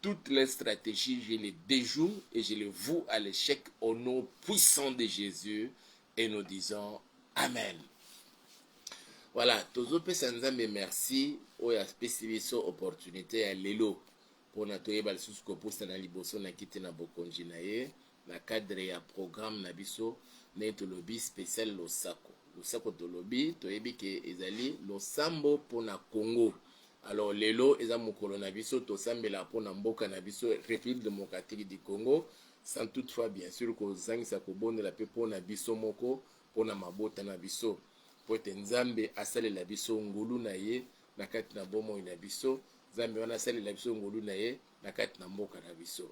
Toutes les strategies je les dejoue et je les voue à l'echec au nom puissant de Jesus et nous disons Amen. Voilà, tozopesa Nzambe merci oyo apesi biso opportunité ya lelo mpona toyeba lisusu kopusana liboso na kiti na bokonzi na ye. na cadre ya programme na biso ndenge tolobi special losako losako tolobi toyebi ke ezali losambo pona Congo alors lelo eza mokolo na biso tosambela pona mboka na biso Republique democratique du Congo sans toutefois bien sûr kozangisa kobondela pe pona biso moko pona mabota na biso po ete Nzambe asalela biso ngolu na ye na kati na bomoi na biso Nzambe wana asalela biso ngolu na ye na kati na mboka na biso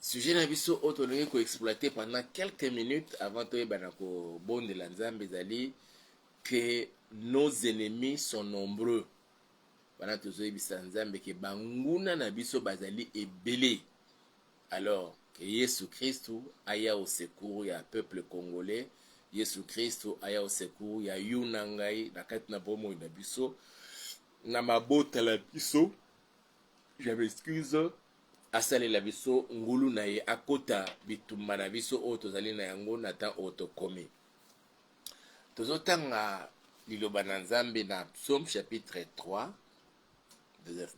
sujet na biso oyo tolingi koexploite pendant quelques minutes avant toyeba na kobondela nzambe ezali que nos ennemis sont nombreux wana tozoyebisa nzambe ke banguna na biso bazali ebele alors ke yesu kristu aya au secours ya peuple congolais yesu kristu aya au secours ya yo na ngai na kati na bomoi na biso na mabota na biso Je m'excuse. Asalela biso ngulu na ye akota bitumba na biso oyo tozali na yango na temps oyo tokomi. Tozotanga liloba na Nzambe na Psaume chapitre 3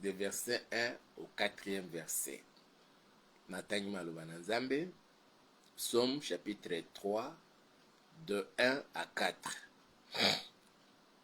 de verset 1 au 4e verset. Natangi maloba na Nzambe Psaume chapitre 3 de 1 à 4.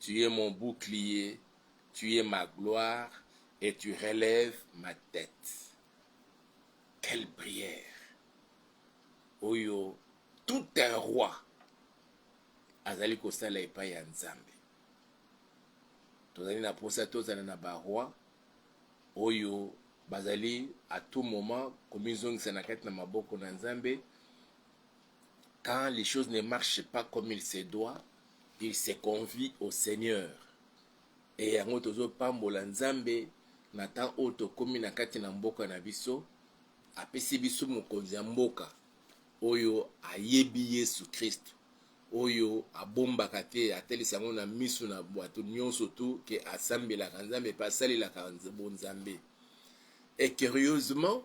Tu es mon bouclier, tu es ma gloire et tu relèves ma tete. Quelle prière! Oyo tout un roi azali kosala epai ya Nzambe. Tozali na posa tozala na ba roi oyo bazali à tout moment komizongisa na kati na maboko na Nzambe. Quand les choses ne marchent pas comme il se doit, il se convie au Seigneur. Et yango tozo pambola Nzambe na temps oyo tokomi na kati na mboka na biso, apesi biso mokonzi ya mboka oyo ayebi Yesu Kristu, oyo abombaka te, atalisa yango na misu na bato nionso tu ke asambelaka Nzambe pe asalelaka bonzambe. Et curieusement,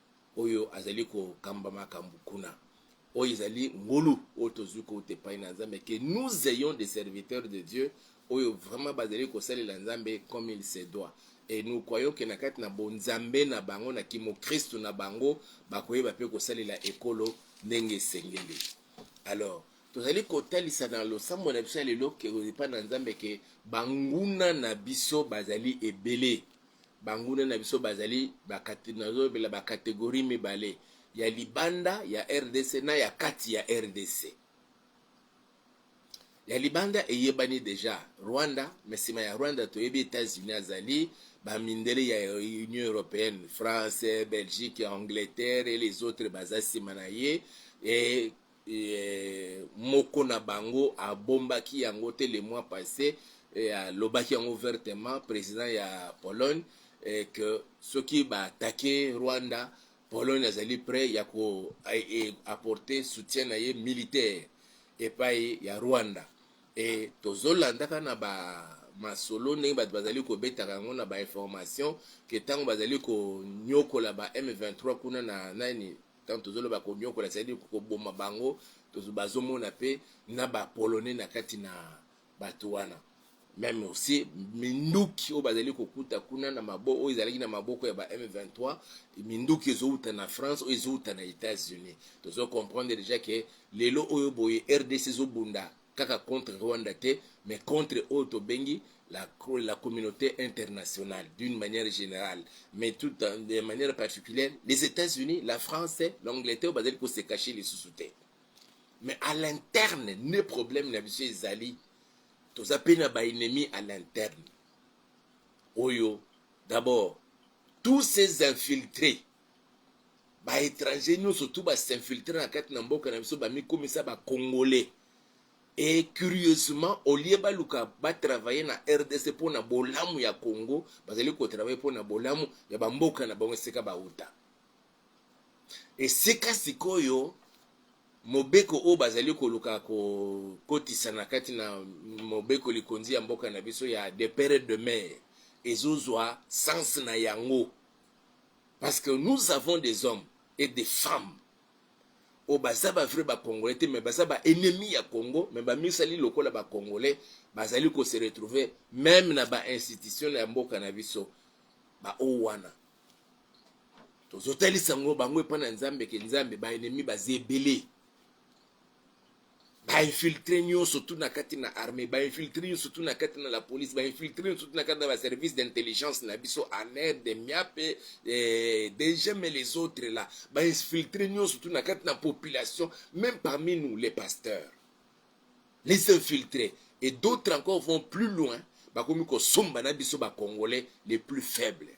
oyo azali kokamba makambo kuna. Oyo ezali ngolu oyo tozwi kouta epai na Nzambe, que nous ayons des serviteurs de Dieu oyo vraiment bazali kosalela Nzambe comme il se doit et nous croyons que na kati na bonzambe na bango, na kimokristu na bango, bakoyeba mpe kosalela ekolo ndenge esengeli. Alors, tozali kotalisa na losambo na biso ya lelo epai na Nzambe ke banguna na biso bazali ebele. Banguna na biso bazali ba kate, nazolobela ba categories mibale, ya libanda ya rdc na ya kati ya rdc. Ya libanda eyebani deja, Rwanda, mais nsima ya Rwanda toyebi Etats-Unis azali, ba mindele ya Union Europeenne, France, Belgique, Angleterre et les autres baza nsima na ye et moko na bango abombaki yango te le mois passe et alobaki yango ouvertement president ya Pologne et que soki ba attaquer Rwanda Pologne azali près ya ko apporter soutien na ye militaire epai ya Rwanda et tozolandaka na ba masolo ndenge bato bazali kobetaka yango na ba information ke ntango bazali konyokola ba M23 kuna na nani Tango tozo loba ko niokola c'est à dire ko boma bango bazo mona pe na ba polonais na kati na batu wana meme aussi minduki oyo bazali kokuta kuna na maboko oyo ezalaki na maboko ya ba M23 minduki ezouta na France oyo ezouta na États-Unis tozo comprendre déjà que lelo oyo boye RDC ezobunda kaka contre Rwanda te mais contre oyo tobengi la, la communauté internationale d'une manière générale mais tout de manière particulière les États-Unis, la France, l'Angleterre bazali ko se cacher lisusu te mais à l'interne ne problème na biso ezali toza mpe na baennemi à l'interne oyo d'abord tous ces infiltrés ba etranger nyoso tu ba s'infiltre na kati na mboka na biso bamikomisa ba congolais et curieusement au lieu baluka ba travailler na rdc mpo na bolamu ya congo bazali kotravaille mpo na bolamu ya bamboka na bango esika bauta esika sikoyo mobeko oyo bazali koluka kokotisa na kati na mobeko likonzi ya mboka na biso ya de pere de mer ezozwa sens na yango parce que nous avons des hommes et des femmes oyo oh, baza ba vrai bacongolais te mais baza ba ennemi ya congo mais bamisali lokola bacongolais bazali ko se retrouver meme na ba institution ya mboka na biso baoyo wana tozotalisa yango bango epai na nzambe ke nzambe baennemi baza ebele ba infiltre nyonso tu na kati na armée ba infiltre nyonso tu na kati na la police ba infiltre nyonso tu na kati na ba service d'intelligence na biso aner de miape eh, degem et les autres là ba infiltre nyonso tu na kati na population même parmi nous les pasteurs les infiltrés et d'autres encore vont plus loin bakomi kosomba na biso bacongolais les plus faibles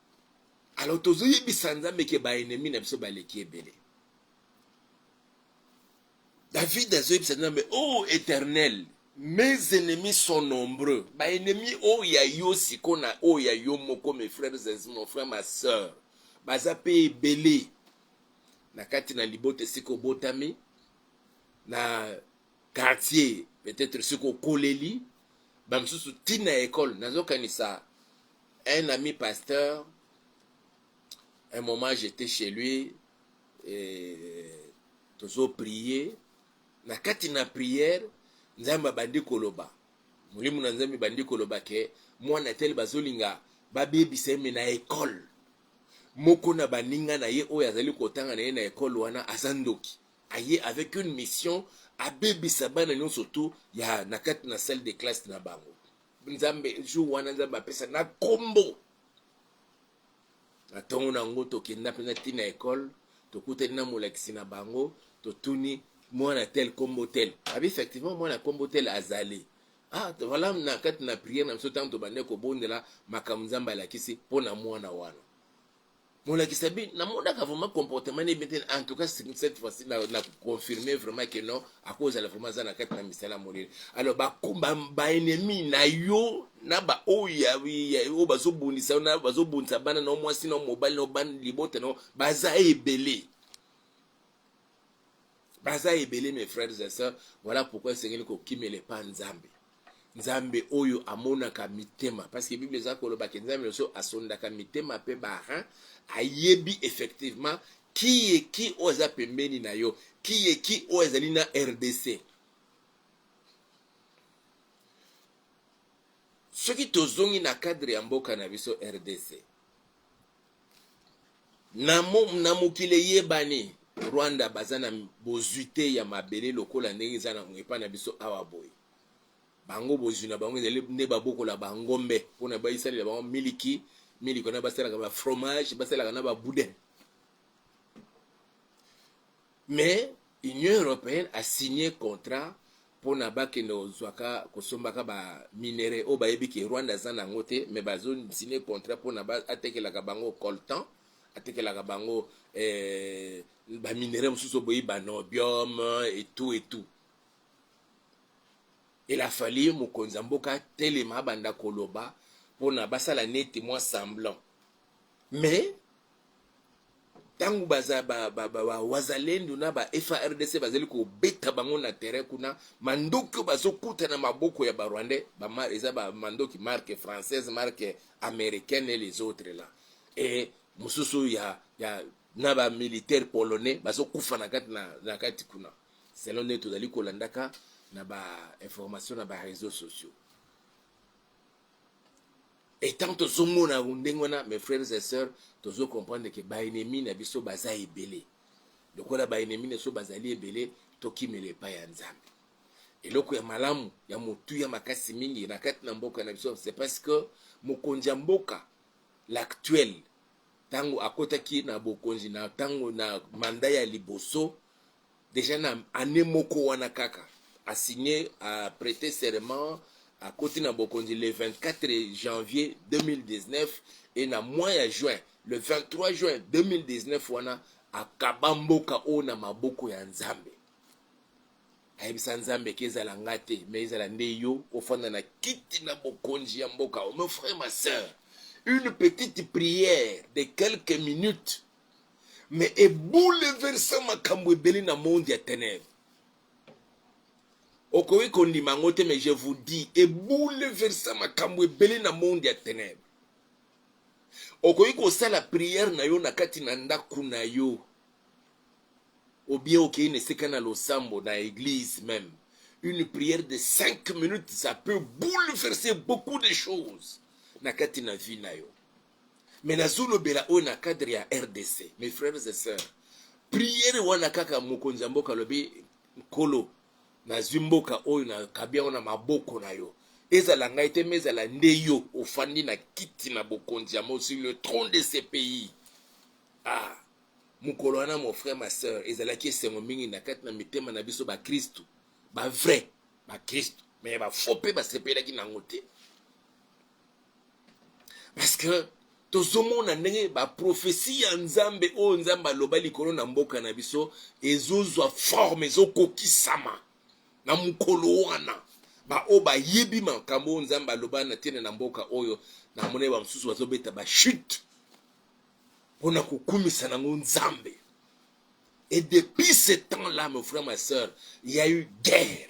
alors tozoyebisa nzambe ke baennemi na biso baleki ebele david azoyebisa nzambe o oh, éternel mes ennemis sont nombreux baennemi oyo oh, ya yo siko na oyo oh, ya yo moko mes frères et mon frère ma sœur baza mpe ebele na kati na libota esika obotami na quartier peut-être soki okoleli bamosusu ntina ya ekole nazokanisa Un ami pasteur, un moment j'etais chez lui, et tozo prier, na kati na prière, Nzambe abandi koloba, molimo na Nzambe bandi koloba ke mwana tel bazolinga babebisa ye me na ekole moko na baninga na ye oyo azali kotanga na ye na ekole wana aza ndoki aye avec une mission abebisa bana nyonso tu ya na kati na salle de classe na bango nzambe jour wana nzambe apesa na kombo na ntongo na yango tokenda mpenza ti na ekole tokutani na molakisi na bango totuni mwana tel kombo tel abi effectivement mwana kombo tel azali ah voilà na kati na priere na biso ntango tobandaki kobondela makambo nzambe alakisi mpo na mwana wana molakisi abi namonaka vraiment comportement ne bien te en tout cas cette fois-ci na, na confirme vraiment que non akozala vraiment aza na kati na misala molele alors baennemi ba, ba na yo na baoyo oyo bazobundisa na bazobundisa bana na mwasi na mobali na bana libota na baza ebele baza ebele mes frères et sœurs voilà pourquoi esengeli kokimela epa nzambe nzambe oyo amonaka mitema parce que bible eza koloba ke nzambe nyonso asondaka mitema mpe barin ayebi effectivement kiye ki oyo aza pembeni na yo kiye ki oyo ezali na rdc soki tozongi na cadre ya mboka na biso rdc Na, na mokili eyebani Rwanda baza na bozwi te ya mabele lokola ndenge eza na epai na biso awa boye. Bango bozwi na bango ezali nde babokola bangombe mpo na baisalela bango miliki miliki wana basalaka ba fromage basalaka na ba boudin Mais Union europeenne a signe contrat pona bakende kozwaka kosombaka ba minerais oyo bayebi ke Rwanda aza na yango te, mais bazo signe contrat pona atekelaka bango coltan, atekelaka bango eh, ba minerais mosusu boyi ba niobium et tout et tout. Il a fallu mokonzi ya mboka atelema abanda koloba pona basala neti mwa semblant mais ntango baza ba, ba, ba, ba wazalendo na ba FARDC bazali kobeta bango na terrain kuna, mandoki oyo bazokuta na maboko ya ba Rwandais ba, eza ba mandoki marque française, marque américaine et les autres là et mosusu ya, ya na ba militaire polonais bazokufa na kati na, na kati kuna, selon nde tozali kolandaka na ba information na ba réseaux sociaux etant tozomona yango ndenge wana mes frères et sœurs tozo comprendre ke baennemi na biso baza ebele lokola baennemi na biso bazali ebele tokimela epai ya nzambe eloko ya malamu ya motuya makasi mingi na kati na mboka na biso c'est parce que mokonzi ya mboka l'actuel ntango akotaki na bokonzi na ntango na manda ya liboso Dejà na annee moko wana kaka a signer a preter serment akoti na bokonzi le 24 janvier 2019 et na mois ya juin le 23 juin 2019 wana akaba mboka oyo na maboko ya Nzambe. Ayebisa Nzambe ke ezala nga te mais ezala nde yo ofanda na kiti na bokonzi ya mboka oyo. Mon frère, ma sœur, une petite prière de quelques minutes mais ebouleversa makambo ebele na monde ya tenèbre okoki kondima yango te mais je vous dis ebouleversa makambo ebele na monde ya tenèbre okoki kosala prière na yo na kati na ndako na yo obien okei na esika na losambo na eglise même une prière de 5 minutes ça peut bouleverser beaucoup de choses na kati na vie na yo mais nazolobela oyo na cadre ya rdc mes frères et sœurs priere wana kaka mokonzi ya mboka alobi nkolo nazwi mboka oyo nakabi yango na maboko na yo ezala ngai te me ezala nde yo ofandi na kiti na bokonzi yango sur le trône de ce pays ah mokolo wana mon frère ma sœur ezalaki esengo mingi na kati na mitema na biso bakristu bavrai bakristu me bafo mpe basepelaki na yango te parce que tozomona ndenge baprofesi ya nzambe oyo nzambe aloba likolo na mboka na biso ezozwa forme ezokokisama na mokolo wana baoyo bayebi makambo oyo nzambe aloba na ntina na mboka oyo na monai bamosusu bazobeta bachute mpo na kokumisa nango nzambe et depuis ce temps là mon frère ma soeur il y a eu guerre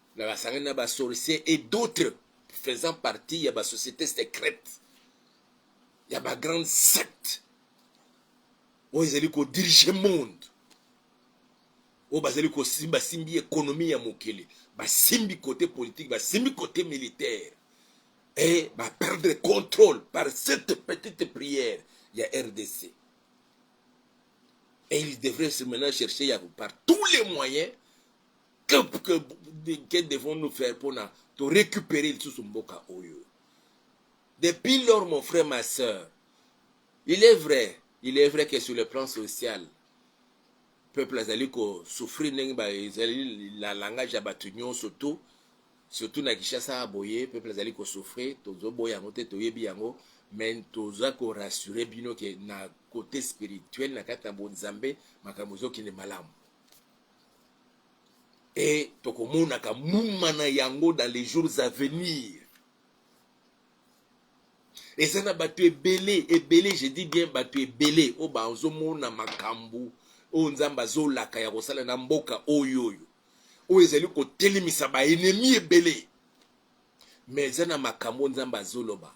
na basangani na ba sorciers et d'autres faisant partie ya ba société secrète ya ba grande secte oyo ezali kodirige monde oyo bazali kosimba simbi ekonomi ya mokili basimbi kote politike basimbi kote militaire e baperdre contrôle par cette petite prière ya rdc et il devrait se maintenant chercher ya par tous les moyens que, que, que devons-nous faire pour na, to récupérer lisusu mboka oyo depuis lors mon frère ma soeur il est vrai il est vrai que sur le plan social peuple azali kosouffrir ndenge ezali na langage ya bato nyonso to surtout na kinshasa boye peuple azali kosouffrir tozoboya yango te toyebi yango mais toza korassure bino ke na côté spirituel na kati na bonzambe makambo ezokende malamu et tokomonaka muma na yango dans les jours à venir eza na bato ebele ebele je dis bien bato ebele oyo bazomona makambo oyo nzambe azolaka ya kosala na mboka oyo oyo oyo ezali kotelemisa baenemi ebele me eza na makambo nzambe azoloba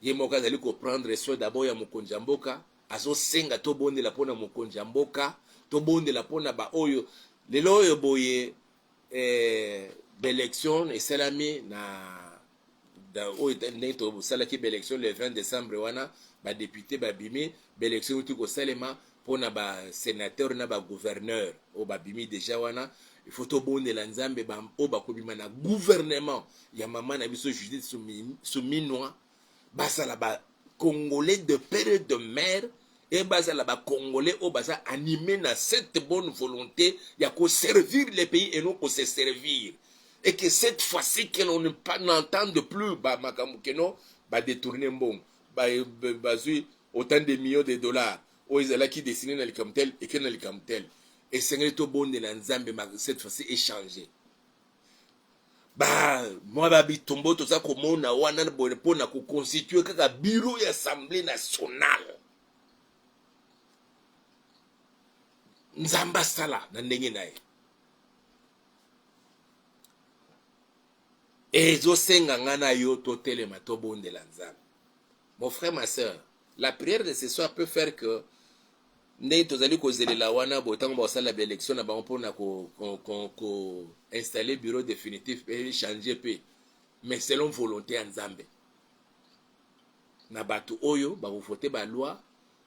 ye moko azali ko prendre soin d'abord ya mokonzi ya mboka, azo senga to bondela pona mokonzi ya mboka, to bondela pona ba oyo lelo oyo boye eh, b'election esalami na oyo ndenge tosalaki b'election le 20 decembre wana ba depute babimi b'election euti kosalema pona ba senateur na ba gouverneur oyo babimi deja wana il faut tobondela nzambe ba oyo bakobima na gouvernement ya mama na biso judith suminwa basala ba congolais de père et de mère e bazala ba congolais oyo baza anime na cette bonne volonté ya koservir le pays et non ko se servir et que cette fois-ci que l'on n'entende plus ba makambo keno ba détourner mbongo bazwi ba, ba, Autant de millions de dollars oyo ezalaki destine na likambo tel eke na likambo tel. Esengeli tobondela Nzambe ma cette fois-ci echange ba mwa ba bitombo toza komona wana boye mpo na koconstitue kaka bureau ya assemblée nationale nzambe asala na ndenge na ye Ezo senga nga na yo to telema to bondela nzambe mon frère ma sœur la prière de ce soir peut faire que ndenge tozali kozelela wana boye ntango bakosala ba élection na bango mpona ko, ko, ko, ko installer bureau définitif mpe changer mpe mais selon volonté ya nzambe na bato oyo bakovote baloi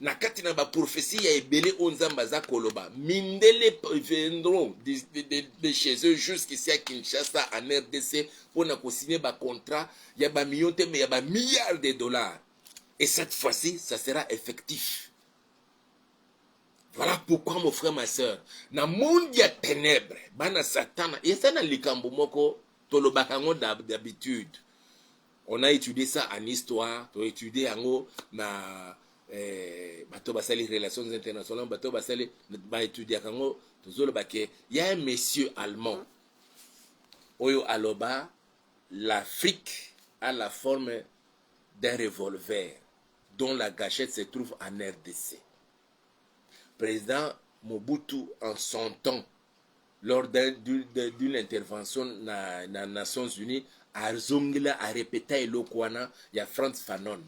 na kati na baprofesi ya ebele oyo nzambe aza koloba mindele viendront de, de, de, de chez eux jusqu'ici à kinshasa en rdc mpo na kosigne bacontrat ya bamillion te mais ya bamilliard de dollars et cette fois-ci ça sera effectif voilà pourquoi mon frère ma sœur na monde ya ténèbre bana satana eza na likambo moko tolobaka yango d'habitude On a étudié ça en histoire, to étudié yango na eh, bato basali relations internationales, bato basali ba étudié yango tozoloba ke ya un monsieur allemand oyo aloba l'Afrique a la forme d'un revolver dont la gâchette se trouve en RDC. Président Mobutu en son temps lors d'une intervention na, na Nations Unies azongela arepeta eloko wana ya Franz Fanon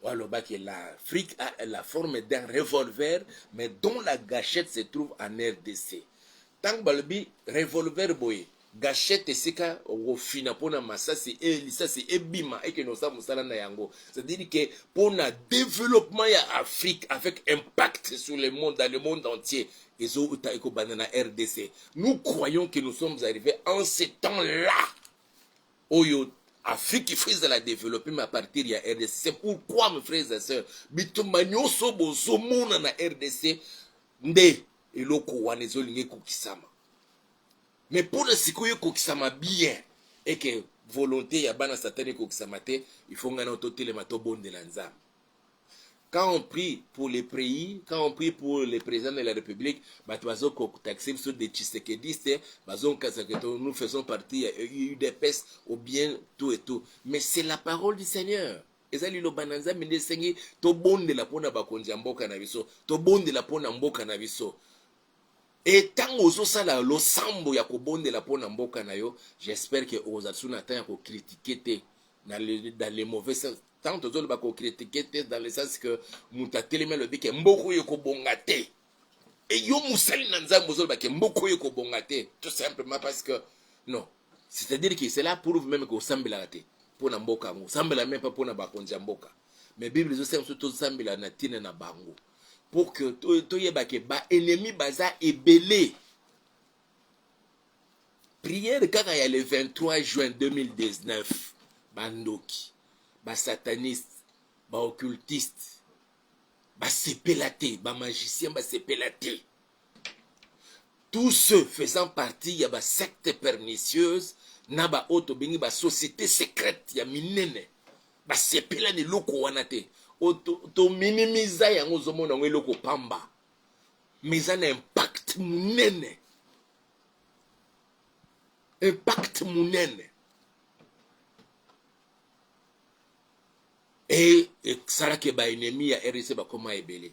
walobaki l'Afrique a la forme d'un revolver mais dont la gâchette se trouve en RDC ntango balobi revolver boye Gachette esika okofina pona masasi e lisasi ebima ekende kosala mosala na yango c'est dire que pona developpement ya Afrique avec impact sur le monde dans le monde entier ezo uta ekobanda na RDC nous croyons que nous sommes arrivés en ce temps là oyo Afrique il faut ezala developpe mais à partir ya RDC c'est pourquoi mes frères et sœurs bitumba nyonso bozomona na RDC nde eloko wana ezolinga ekokisama Mais pour le sikoyo ekokisama bien et que volonté ya bana satan ekokisama te il faut ngai na totelema tobondela nzambe quand on prie pour les pays quand on prie pour le président de la république bato bazokotaxe biso de tshisekediste bazokasa que nous faisons partie ya udps ou bien tout et tout mais c'est la parole du seigneur eza liloba na nzambe nde esengi tobondela mpo na bakonzi ya mboka na biso tobondela mpo na mboka na biso Et tango ozo sala losambo ya ko bondela pona mboka na yo, j'espère que oko zala lisusu na temps ya ko critiquer te na le, dans le mauvais sens. Tango tozo loba ko critiquer te dans le sens que mutu atelemi alobi ke mboka oyo eko bonga te. Et yo mosali na Nzambe ozo loba ke mboka oyo eko bonga te tout simplement parce que non. C'est-à-dire que cela prouve même que osambelaka te pona mboka yango. Osambela meme pas pona bakonzi ya mboka. Mais Bible ezo senga biso tosambela na tina na bango. pour que toyeba ke ba ennemis baza ebele prière kaka ya le 23 juin 2019 bandoki basataniste baoccultiste basepela te bamagicien basepela te tous ceux faisant partie ya ba sectes pernicieuses na ba oyo tobengi ba société secrète ya minene basepela na eloko wana te tominimiza to yango ozomona yango eloko pamba mais eza na impact monene impact monene et esala que ba ennemis ya RDC bakoma ebele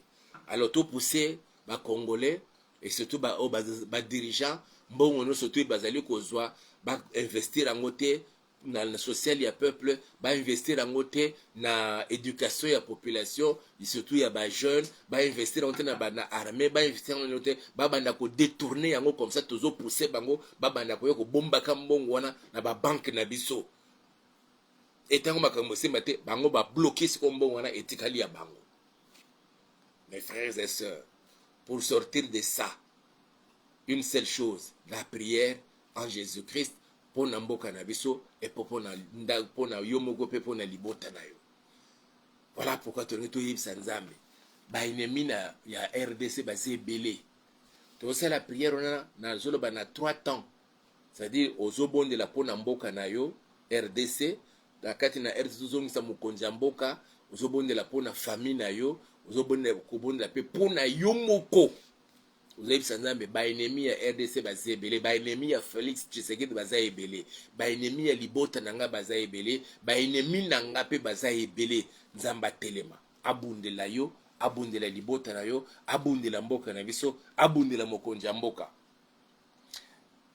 alors to pousser ba congolais et surtout ba, oh, ba, ba dirigeants mbongo nyonso to bazali kozwa ba investir yango te na, na social ya peuple ba investir yango te na éducation ya population surtout ya ba jeunes ba investir yango te na ba na armée ba investir yango te ba banda ko détourner yango comme ça tozo pousser bango ba banda ko yo ko bombaka mbongo wana na ba banque na biso etango makambo esimba te bango babloke sikoyo mbongo wana etikali ya bango mes frères et sœurs pour sortir de ça une seule chose la prière en jésus christ mpo na mboka na biso epo mpo na yo moko mpe mpo na libota na yo voilà pourquoi tolingi toyebisa nzambe baennemi na ya rdc baza ebele tozosala prière wana nazoloba na 3 temps C'est à dire ozo bondela pona mboka na yo rdc na kati na rdc tozongisa mokonzi ya mboka ozo bondela pona famille na yo ozo bondela kobondela pe pona yo moko ozoyebisa nzambe baennemi ya rdc baza ebele baennemi ya félix tshisekedi baza ebele baennemi ya libota na ngai baza ebele baennemi na ngai mpe baza ebele nzambe atelema abundela yo abundela libota na yo abundela mboka na biso abundela mokonzi ya mboka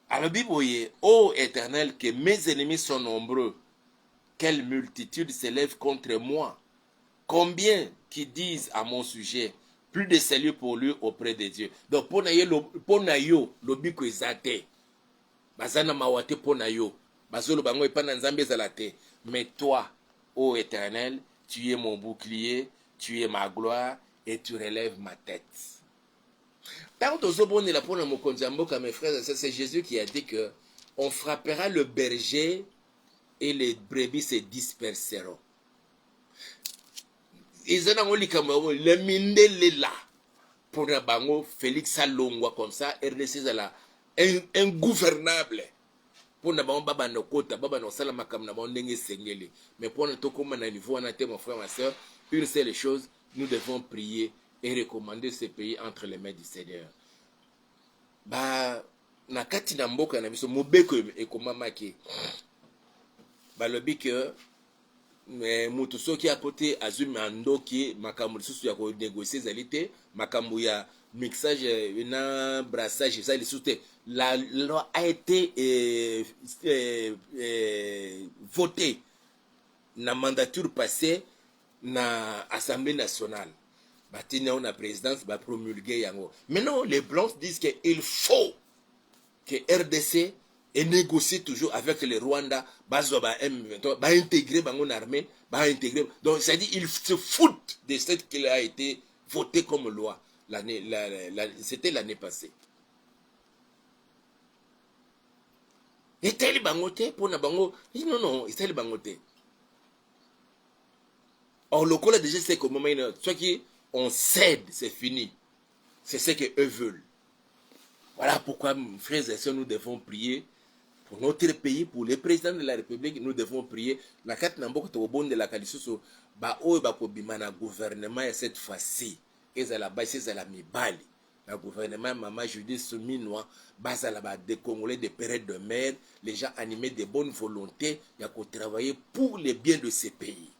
alobi boye o oh, eternel ke mes ennemis sont nombreux quelle multitude s'élève contre moi combien qui disent à mon sujet plus de salut pour lui auprès de dieu donc mpo na ye mpo na yo lobiko eza te baza na mawa te mpo na yo bazoloba yango epai na nzambe ezala te mais toi ô oh éternel tu es mon bouclier tu es ma gloire et tu relèves ma tête Tango tozo bondela pona mokonzi ya mboka mes frères et sœurs c'est Jésus qui a dit que on frappera le berger et les brebis se disperseront. Eza nango likambo yango le mindele la pona bango Félix alongwa comme ça RDC ezala ingouvernable mpo na bango babanda kokota babanda kosala makambo na bango ndenge esengeli mais mpo na tokóma na niveau wana te mon frère ma soeur une seule chose nous devons prier et recommande ce pays entre les mains du Seigneur. Ba na kati na mboka na biso mobeko ekomamaki balobi ke eh, moto soki akote azwi mandoki makambo lisusu ya konegocie ezali te makambo ya mixage eh, na brassage eza lisusu te la loi a été eh, eh, eh, votée na mandature passée na assemblee nationale batindi yango na présidence ba promulgue yango maintenant les blancs disent que il faut que rdc et négocie toujours avec le rwanda bazwa ba m23 baintégre bango na armée baintégre donc c'est à dire il se fout de ce qu'il a été voté comme loi l'année la, la, la, c'était l'année passée etali bango te mpo na bango non non etali bango te or lokola deja esi ekomamaki na soki on cède c'est fini c'est ce que eux veulent voilà pourquoi frères et sœurs nous devons prier pour notre pays pour le président de la république nous devons prier na kati na mboka tokobondelaka lisusu baoyo bakobima na gouvernement ya cette fois-ci ezala basi ezala mibali na gouvernement ya mama Judith Suminwa bazala ba decongolais de pere et de mère les gens animes de bonne volonte ya ko travailler pour le bien de ce pays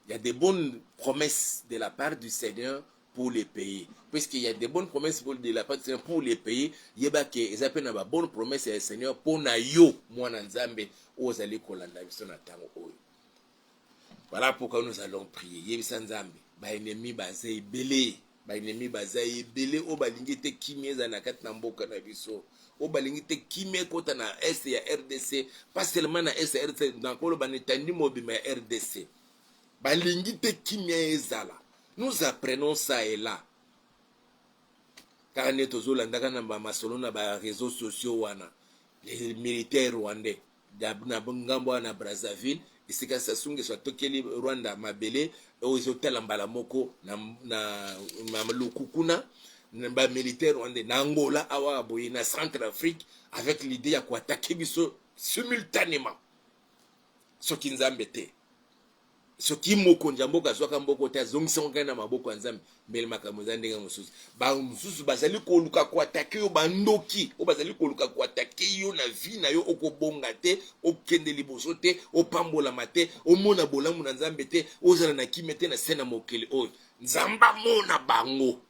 il y a de bonnes promesses de la part du Seigneur pour le pays puisque il y a de bonnes promesses pour de la part du Seigneur pour le pays yeba ke eza pe na ba bonnes promesses ya Seigneur pona yo mwana Nzambe ozali kolanda biso na tango oyo Voilà pourquoi nous allons prier. Yebisa Nzambe, ba ennemis baza ebele, ba ennemis baza ebele oyo balingi te kimia ezala na kati na mboka na biso. Oyo balingi te kimia ekota na est ya RDC, pas seulement na est ya RDC, na koloba na etandi mobimba ya RDC. Balingi te kimia ezala. Nous apprenons ça et là. Kaka nde tozolandaka na ba masolo na ba réseaux sociaux wana. Les militaires rwandais Na ngambo wana ya Brazzaville, esika Sassou N'Guesso atokeli Rwanda mabele oyo ezotala mbala moko na maluku kuna, ba militaires rwandais na Angola awa boye na Centrafrique avec l'idee ya ko attaquer biso simultaneement soki Nzambe te. soki mokonzi ya mboka azwaka mboko te azongisango ngai na maboko ya nzambe mbele makambo eza ndenge mosusu bango mosusu bazali koluka koatake yo bandoki oyo bazali koluka koatake yo na vi na yo okobonga te okende liboso te opambolama te omona bolamu na nzambe te ozala na kimia te na se na mokili oyo nzambe amona bango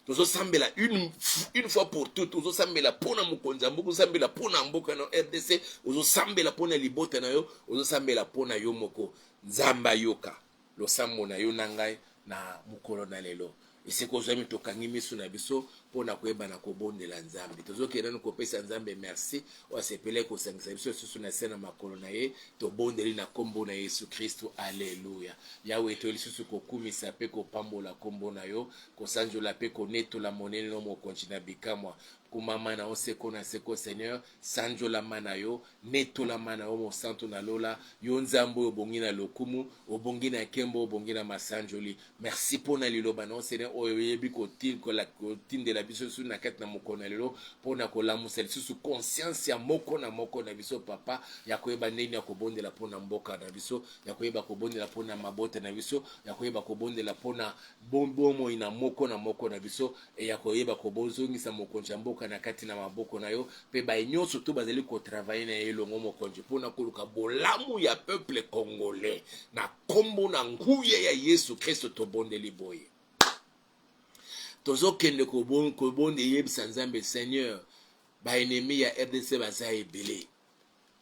tozosambela une, une fois pour toute ozosambela mpo na mokonzi ya mboka ozosambela mpo na mboka na rdc ozosambela mpo na libota na yo ozosambela mpo na yo moko nzambe ayoka losambo na yo na ngai na mokolo na lelo esika ozwami tokangi miso na biso mpo na koyebana kobondela nzambe tozokende nanu kopesa nzambe merci oyo asepelaki kosangisa biso lisusu na se na makolo na ye. Tobondeli na nkombo na Yesu Kristu, aleluya. Yawe, toye lisusu kokumisa mpe kopambola nkombo na yo, kosanjola mpe konetola monene na yo, Mokonji na bikamwa. Kumama na yo seko na seko, Seigneur, sanjolama na yo, netolama na yo, Mosantu na Lola, yo Nzambe oyo obongi na lokumu, obongi na nkembo, obongi na masanjoli. Merci mpo na liloba na yo Seigneur oyo oyebi kotindela biso lisusu na kati na mokolo na lelo mpo na kolamusa lisusu conscience ya moko na moko na biso papa ya koyeba ndenge ya kobondela mpo na mboka na biso ya koyeba kobondela mpo na mabota na biso ya koyeba kobondela mpo na bomoi na moko na moko na biso e ya koyeba kobozongisa mokonzi ya mboka na kati na maboko na yo mpe baye nyonso to bazali kotravaille na ye elongo mokonzi mpo na koluka bolamu ya peuple congolais na nkombo na nguya ya yesu kristo tobondeli boye tozokende kobonde eyebisa nzambe seigneur baennemi ya rdc baza ebele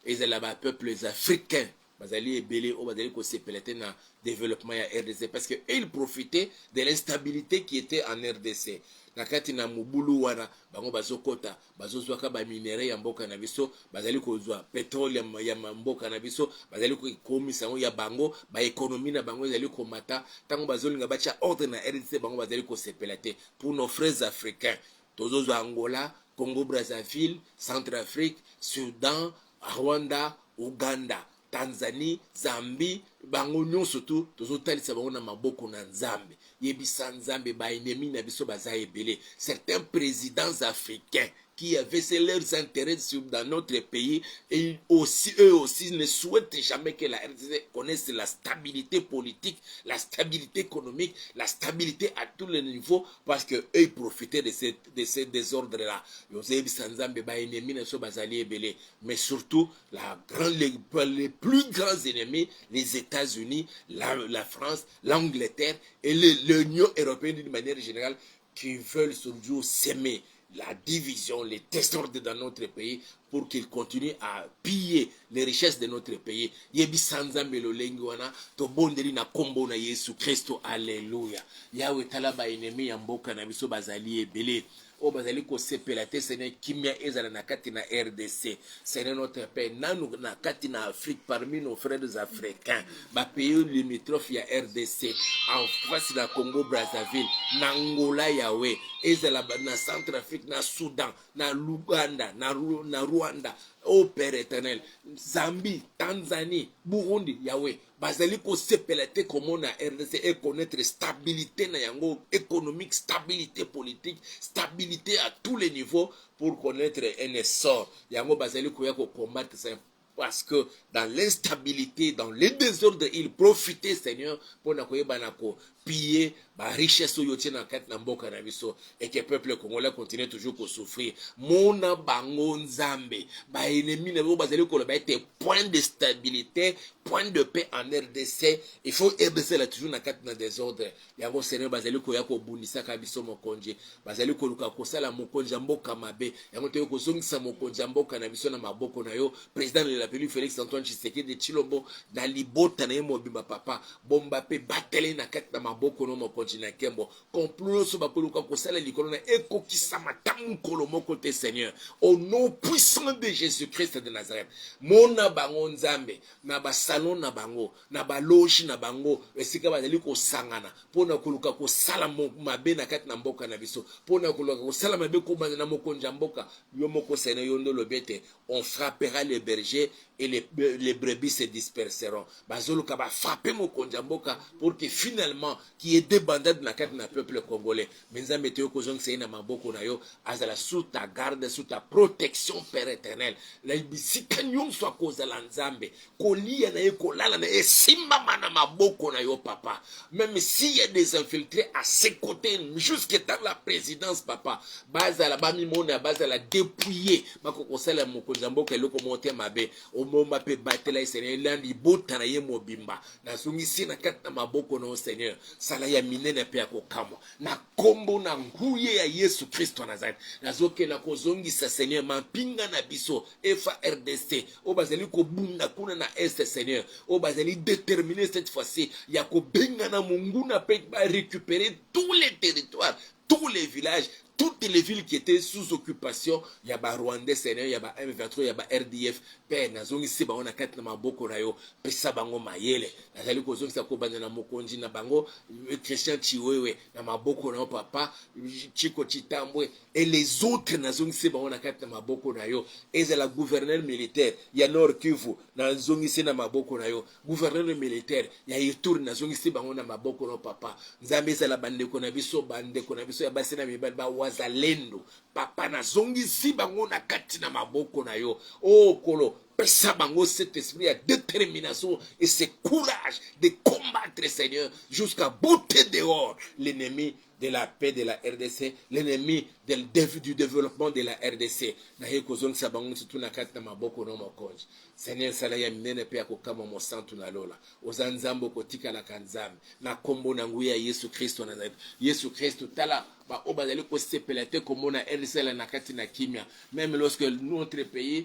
ezala bapeuples africains bazali ebele oyo bazali kosepela te na développement ya rdc parce que il profite de l'instabilité qui était en rdc na kati na mobulu wana bango bazokɔta bazozwaka ba minerais ya mboka na biso bazali kozwa petrole ya, ya mboka na biso bazali kokomisa yango ya bango baekonomi na bango ezali komata ntango bazolinga batya ordre na rdc bango bazali kosepela te pour nos frères africains tozozwa angola congo brazzaville centre afrique sudan rwanda uganda tanzanie zambie bango nyonso tu tozotalisa bango na maboko na nzambe yebisa nzambe baennemi na biso baza ebele certains présidents africains qui avaient ses leurs intérêts sur, dans notre pays et aussi eux aussi ne souhaitent jamais que la RDC connaisse la stabilité politique la stabilité économique la stabilité à tous les niveaux parce que eux ils profitaient de ce, de ce désordre là yozeyebisa nzambe baennemi na biso bazali ebele mais surtout la grand, les, les, plus grands ennemis, les États-Unis, la, la, France, l'Angleterre et l'Union européenne d'une manière générale, qui veulent toujours s'aimer la division, les désordres dans notre pays pour qu'ils continuent à piller les richesses de notre pays. Yebi sanza melolengi wana to bondeli na kombo na Yesu Christo. Alléluia. Yahweh tala ba ennemis ya mboka na biso bazali ebele. oyo bazali kosepela te sene kimia ezala na kati na rdc sene notre pays nanu na kati na afrique parmi nos frères africains bapays limitrophe ya rdc en face na congo brazzaville na ngola yawe ezala na centre afrique na soudan na luganda na, na rwanda au oh, père éternel zambie tanzanie burundi yawe bazali kosepela te komona rdc econaitre stabilite na yango économique stabilite politique stabilite à tous les niveaux pour connaître un essor yango bazali koya kocombattre ça parce que dans l'instabilité dans le désordre il profite seigneur mpo na koyebana ko piller ba richesse oyo otie na kati na mboka na biso et que peuple congolais continue toujours ko souffrir mona bango nzambe ba ennemis na bango bazali koloba ete point de stabilité point de paix en rdc il faut ebesela toujours na kati na desordre yango seigneur bazali koya kobundisaka biso mokonzi bazali koluka kosala mokonzi ya mboka mabe yango toyei kozongisa mokonzi ya mboka na biso na maboko na yo président de la République Félix Antoine Tshisekedi de Chilombo na libota na ye mobimba papa bomba mpe batele na kati na maboko no mokonzi na nkembo complot nyonso bakoluka kosala likolo na ekokisama ta mokolo moko te Seigneur au nom puissant de Jésus-Christ de Nazareth mona bango Nzambe na basalon na bango na baloge na bango esika bazali kosangana mpo na koluka kosala mabe na kati na mboka na biso mpo na koluka kosala mabe kobanda na mokonzi ya mboka yo moko Seigneur yo nde olobi ete on frappera le berger et les, les brebis se disperseront bazoluka ba frapper mokonzi ya mboka pour que finalement qui est debandade na kati na peuple congolais mais nzambe toyo kozongisa ye na maboko na yo azala sous ta garde sous ta protection père éternel na bisika nyonso akozala nzambe kolia na ye kolala na ye esimbama na maboko na yo papa meme si ya des infiltré à ses côtés jusque dans la présidence papa bazala bamimona bazala dépouillé bako kosala mokonzi ya mboka eloko moko te mabe omomba mpe batela ye seigneur ela libota na ye mobimba nazongisi na kati na maboko na yo seigneur sala ya minene mpe ya kokamwa na nkombo na nguye ya yesu kristo nazareth nazokela kozongisa seigneur mampinga na biso FARDC oyo bazali kobunda kuna na est seigneur oyo bazali déterminer cette fois-ci ya kobengana monguna mpe barécupérer tous les territoires tous les villages toutes les villes qui étaient sous occupation ya ba rwandais seigneur ya ba m23 ya ba rdf mpe nazongisi bango na kati na maboko na yo pesa bango mayele nazali kozongisa kobanda na mokonzi na bango christian chiwewe na maboko na yo papa chiko chitambwe et les autres nazongisi bango na kati na maboko na yo ezala gouverneur militaire ya nord kivu nazongisi na maboko na yo gouverneur militaire ya ituri nazongisi bango na maboko na papa nzambe ezala bandeko na biso bandeko na biso ya basi na mibali bawazalendo papa nazongisi bango na kati na maboko na yo o oh, kolo pesa bango cet esprit ya détermination et ce courage de combattre seigneur jusqu'à beauté dehors l'ennemi de la paix de la rdc l'ennemi du développement de la rdc naye kozongisa bango nyonso tu na kati na maboko no mokonzi seigneur sala ya minene mpe ya kokamwa mosantu na lola oza nzambe okotikalaka nzambe na nkombo na nguya ya yesu kristo na nazareti yesu kristo tala baoyo bazali kosepela te komona rdc na kati na kimia meme lorsque notre pays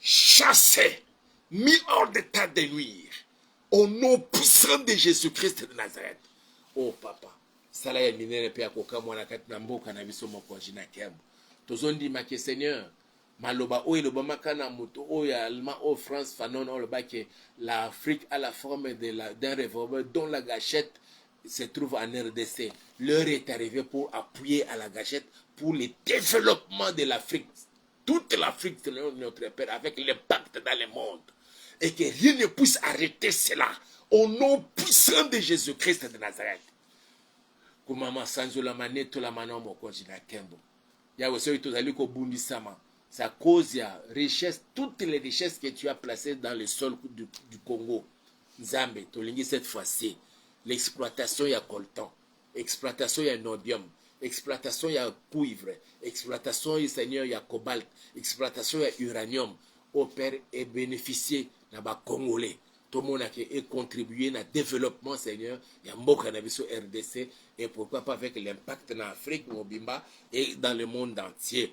chassé, mis hors d'état de nuire. Au nom puissant de Jésus-Christ de Nazareth. Oh papa, sala ya minene pe ya kokamwa na kati na mboka na biso mokonzi na nkembo. Tozondima ke Seigneur, maloba oyo elobamaka na moto oyo ya allemand oyo France Fanon oyo alobaki l'Afrique a la forme de la d'un revolver dont la gâchette se trouve en RDC. L'heure est arrivée pour appuyer à la gâchette pour le développement de l'Afrique toute l'Afrique de notre Père avec l'impact dans le monde et que rien ne puisse arrêter cela au nom puissant de Jésus-Christ de Nazareth. Kumama sanzola maneto la mano mokonzi na kembo. Yawe soki tozali kobundisama sa cause ya richesse toutes les richesses que tu as placées dans le sol du, du Congo. Nzambe tolingi cette fois-ci l'exploitation ya coltan exploitation ya nodium, exploitation ya cuivre, exploitation ye seigneur ya cobalt, exploitation ya uranium oyo père e beneficier na ba congolais tomona ke e contribuer na developpement seigneur ya mboka na biso rdc et pourquoi pas avec l'impact na afrique mobimba et dans le monde entier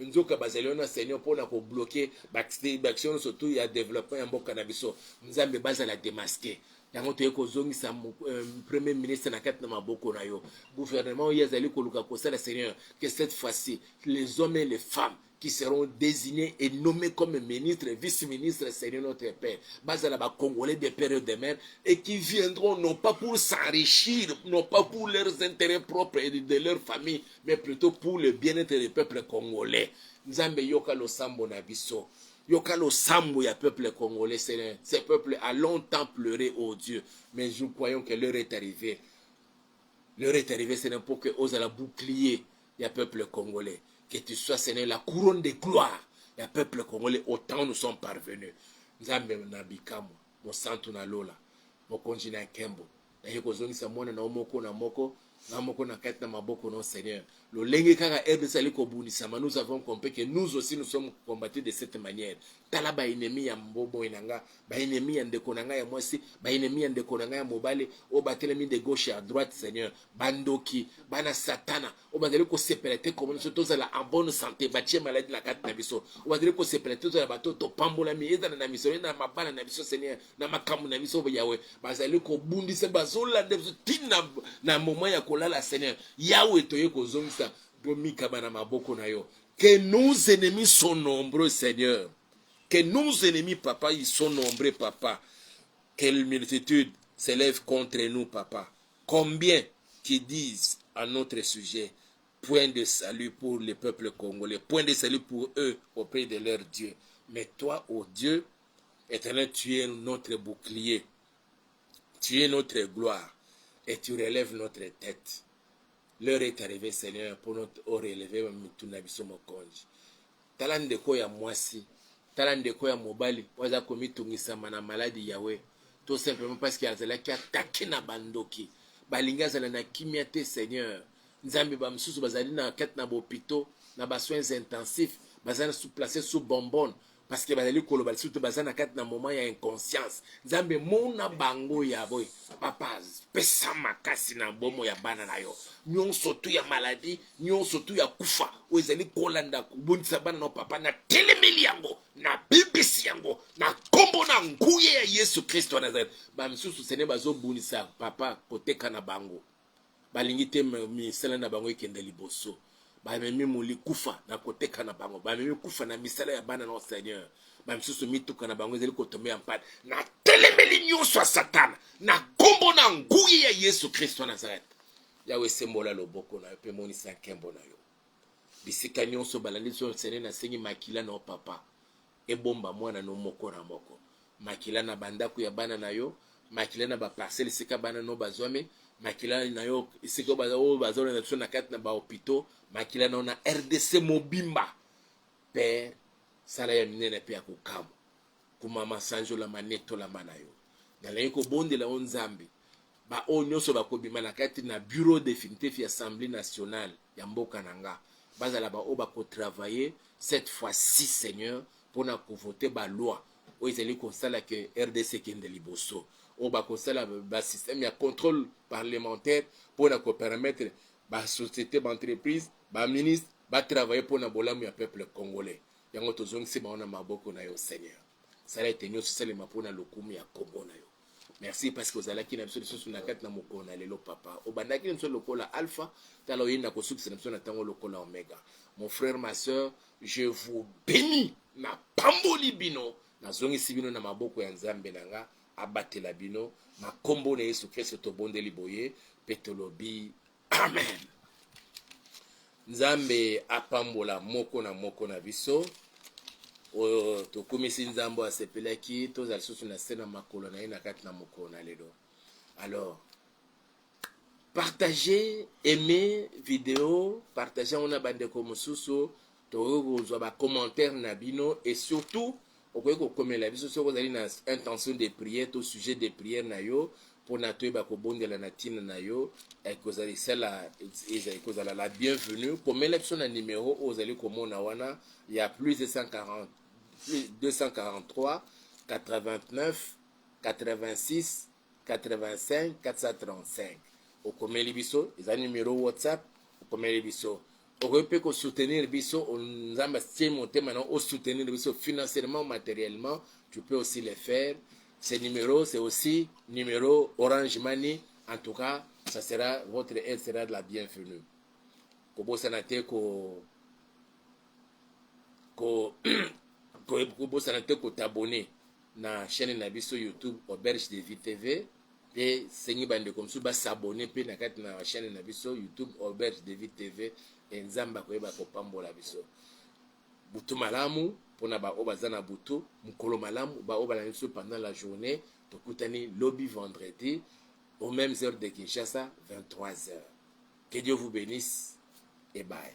Nzoka bazali wana seigneur pona ko bloque b'accès b'action nionso tout ya developpement ya mboka na biso nzambe bazala demasque yango toye kozongisa euh, premier ministre na kati na maboko na yo gouvernement oyo azali koluka kosala seigneur que cette fois-ci les hommes et les femmes qui seront désignés et nommés comme ministres et vice-ministres, Seigneur notre Père, Bazala ba Congolais de père et de mère, et qui viendront non pas pour s'enrichir, non pas pour leurs intérêts propres et de leur famille, mais plutot pour le bien etre le peuple congolais nzambe yoka losambo na biso yoka losambo ya peuple congolais seigneur ce peuple a longtemps pleuré au oh dieu mais nous croyons que l'heure est arrivée l'heure est arrivée seigneur pour que ozala bouclier ya peuple congolais que tu sois seigneur la couronne de gloire ya peuple congolais autant nous sommes parvenus nzambe na bikamwa mosantu na lola mokonzi na nkembo Naye kozongisa mwana na yo moko na moko na moko na kati na maboko na Seigneur. Lolenge kaka RDC ali kobundisama, nous avons compris que nous aussi nous sommes combattus de cette manière. Tala ba ennemis ya mbobo na nga, ba ennemis ya ndeko na nga ya mwasi, ba ennemis ya ndeko na nga ya mobali, o batelemi de gauche à droite Seigneur. Bandoki, bana satana, o bazali kosepela te komona biso tozala en bonne santé, batie maladie na kati na biso. O bazali kosepela te tozala bato topambolami, ezala na misolo, na mabala na biso Seigneur. na makambo na biso yawe bazali kobundisa bazolanda biso ti na, na moma ya kolala seigneur yawe toye kozongisa bomikaba na maboko na yo que nos ennemis sont nombreux seigneur que nos ennemis papa ils sont nombreux papa quelle multitude s'élève contre nous papa combien qui disent à notre sujet point de salut pour les peuples congolais point de salut pour eux auprès de leur Dieu mais toi ô oh Dieu Eternel tu es notre bouclier tu es notre gloire et tu relèves notre tête l'heure est arrivée Seigneur mpo notre o relever mitu na biso mokonzi tala ndeko ya mwasi tala ndeko ya mobali oyo aza komitungisama na maladi yawe tout simplement parce que azalaki atake na bandoki balingi azala na kimia te Seigneur nzambe bamosusu bazali na kati na bopito na basoins intensifs baza place sous bonbonne parce que bazali koloba lisusu te baza na kati na moment ya inconscience nzambe mona bango ya boye papa pesa makasi na bomo ya bana na yo nyonso tu ya maladie nyonso tu ya kufa oyo ezali kolanda kobondisa bana na papa na telemeli yango na bibisi yango na nkombo na nguye ya yesu kristo ya nazareth bamisusu sene bazobundisa papa koteka na bango Balingi te misala na bango ekende liboso. Bamemi moli kufa na koteka na bango, bamemi kufa na misala ya bana na Seigneur. Bamisusu mituka na bango ezali kotombe ya mpani. Natelemeli nyonso ya Satana na nkombo na nguyi ya Yesu Kristo ya Nazareth. Yawe, esembola loboko na yo mpe monisa nkembo na yo bisika nyonso balandi so Seigneur, nasengi makila na yo Papa Ebomba mwana no moko na moko, makila na ba ndaku ya bana na yo, makila na ba parcelle esika bana no bazwami, makila na yo esika oyo bazolanda biso na kati na ba hopitaux, makila na yo na rdc mobimba. Père, sala ya minene pe ya kokamwa. Kumama, sanjolama, netolama na yo. Nalingi kobondela o Nzambe, ba oyo nyonso bakobima na kati na bureau definitif ya Assemblee nationale, ya mboka na nga bazala ba oyo bako travailler cette fois ci seigneur pona ko voter ba loi oyo ezali kosala ke rdc ekende liboso oyo bakosala ba système ya contrôle parlementaire mpo na kopermettre basociété baentreprise baministre batravaille mpo na bolamu ya peuple congolais yango tozongisi bango na maboko na yo seigneur sala ete nyonso esalema mpo na lokumu ya nkombo na yo merci parce que ozalaki na biso lisusu na kati na mokolo na lelo papa obandaki na biso lokola alpha tala oye na kosukisa na biso na ntango lokola omega mon frère ma soeur je vous béni napamboli bino nazongisi bino na maboko ya nzambe na nga abatela bino na nkombo na yesu kristo tobondeli boye mpe tolobi Amen. Nzambe apambola moko na moko na biso oyo tokumisi Nzambe asepelaki tozala lisusu na se na makolo na ye na kati na mokolo na lelo. Alors, partager, aimer video, partager yango na bandeko mosusu Tokoki kozwa ba commentaires na bino et surtout okoki kokomela biso soki ozali na intention de prière to sujet de prière na yo pona toyeba kobondela na tina na yo ekozalisela ekozala la bienvenue komela biso na numero oyo ozali komona wana ya plus 240 243 89 86 85 435 okomeli biso eza numero whatsapp okomeli biso okoki mpe kosoutenir biso nzambe atie motema na osoutenir biso financièrement matériellement tu peux aussi le faire ce numero c'est aussi numero orange money en tout cas ça sera votre aide sera de la bienvenue kobosana te ko ko kobosana te kotabone na chaine na biso YouTube Auberge de Vie TV pe sengi ba ndeko mosusu ba s'abonner pe na kati na chaine na biso YouTube Auberge de Vie TV et Nzambe akoyeba kopambola biso butu malamu pona ba oyo baza na butu mukolo malamu ba oyo balandi biso pendant la journée tokutani lobi vendredi aux mêmes heures de Kinshasa 23 heures que Dieu vous bénisse et bye